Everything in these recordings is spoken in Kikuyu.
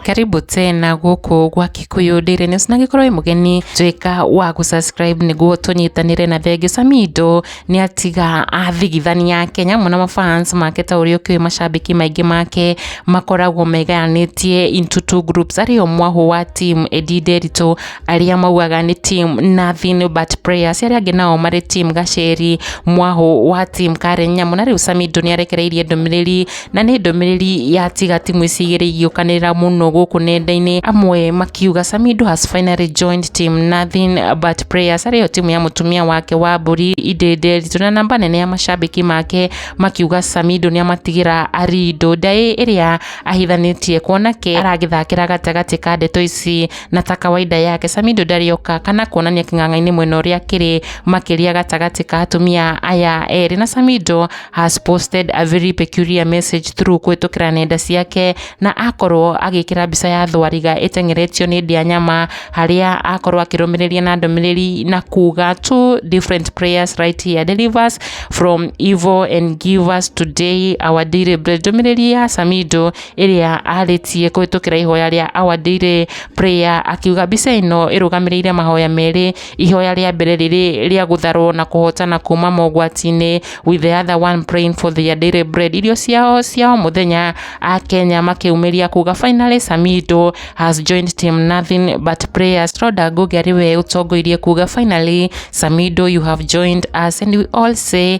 karibu tena guku gwa kikuyu ndiri news na ngikorwo wi mugeni twika wa gu subscribe niguo tunyitanire na thenge samido ni atiga athigithania kenya muno mafans make ta uria ukiwi mashabiki maingi make makoragwo megayanitie into two groups ari o mwahu wa team edi nderitu arĩa maugaga nĩ team nothing but prayers, arĩa angĩ nao marĩ team gaceri mwahũ wa team kare nyamũ, na rĩu Samido nĩ arekereirie ndũmĩrĩri na nĩ ndũmĩrĩri ya tiga timu ici igĩrĩ igĩũkanĩrĩra mũno gũkũ nenda-inĩ, amwe makiuga Samido has finally joined team nothing but prayers, arĩ yo timu ya mũtumia wake wa mbũri Inde Nderitu, na namba nene ya macambĩki make makiuga Samido nĩ amatigĩra Arindo, ndaĩ ĩrĩa ahithanĩtie kuona ke aragĩthakĩra gatagatĩ ka ndeto ici. na ta kawaida yake Samido ndarĩoka kana kuonania kĩng'ang'a-inĩ mwena ũrĩa kĩrĩ makĩria gatagatĩ ka atumia aya erĩ na Samido has posted a very peculiar message through kũhĩtũkĩra nenda ciake na akorwo agĩkĩra mbica ya thwariga ĩteng'eretio nĩ ndĩa nyama harĩa akorwo akĩrũmĩrĩria na ndũmĩrĩri na kuga two different prayers right here deliver us from evil and give us today our daily bread ndũmĩrĩri ya Samido ĩrĩa arĩtie kũhĩtũkĩra ihoya rĩa Our Daily Prayer akiuga mbica ĩno ĩrũgamĩrĩire mahoya merĩ ihoya rĩa mbere rĩrĩ rĩa gũtharwo na kũhotana kuma mogwati-inĩ with the other one praying for their daily bread irio ciao cia o mũthenya a Kenya makĩumĩria kuga finally Samido has joined team nothing but prayers Rhoda Ngugi arĩ we ũtongoirie kuga finally Samido you have joined us and we all say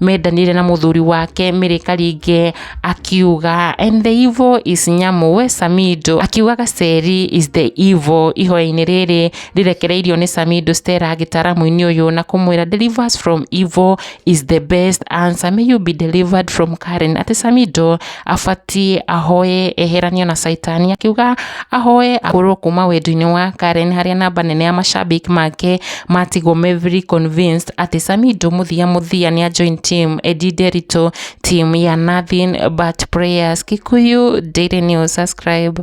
mendanire na muthuri wake Mary Karinge akiuga and the evil is Nyamu we Samido akiuga Gaceri is the evil ihoya-inĩ rĩrĩ rĩrekereirio nĩ Samido Stella gĩtaramu-inĩ ũyũ na kũmwĩra delivers from evil is the best answer may you be delivered from Karen atĩ Samido abatiĩ ahoe eheranio na caitani akiuga ahoe ahũrwo kuma wendi-inĩ wa Karen harĩa namba nene ya mashabiki make matigwo me very convinced atĩ Samido mũthia mũthia nĩ a join team Eddie Nderitũ team ya nothing but prayers Kikuyu Daily News subscribe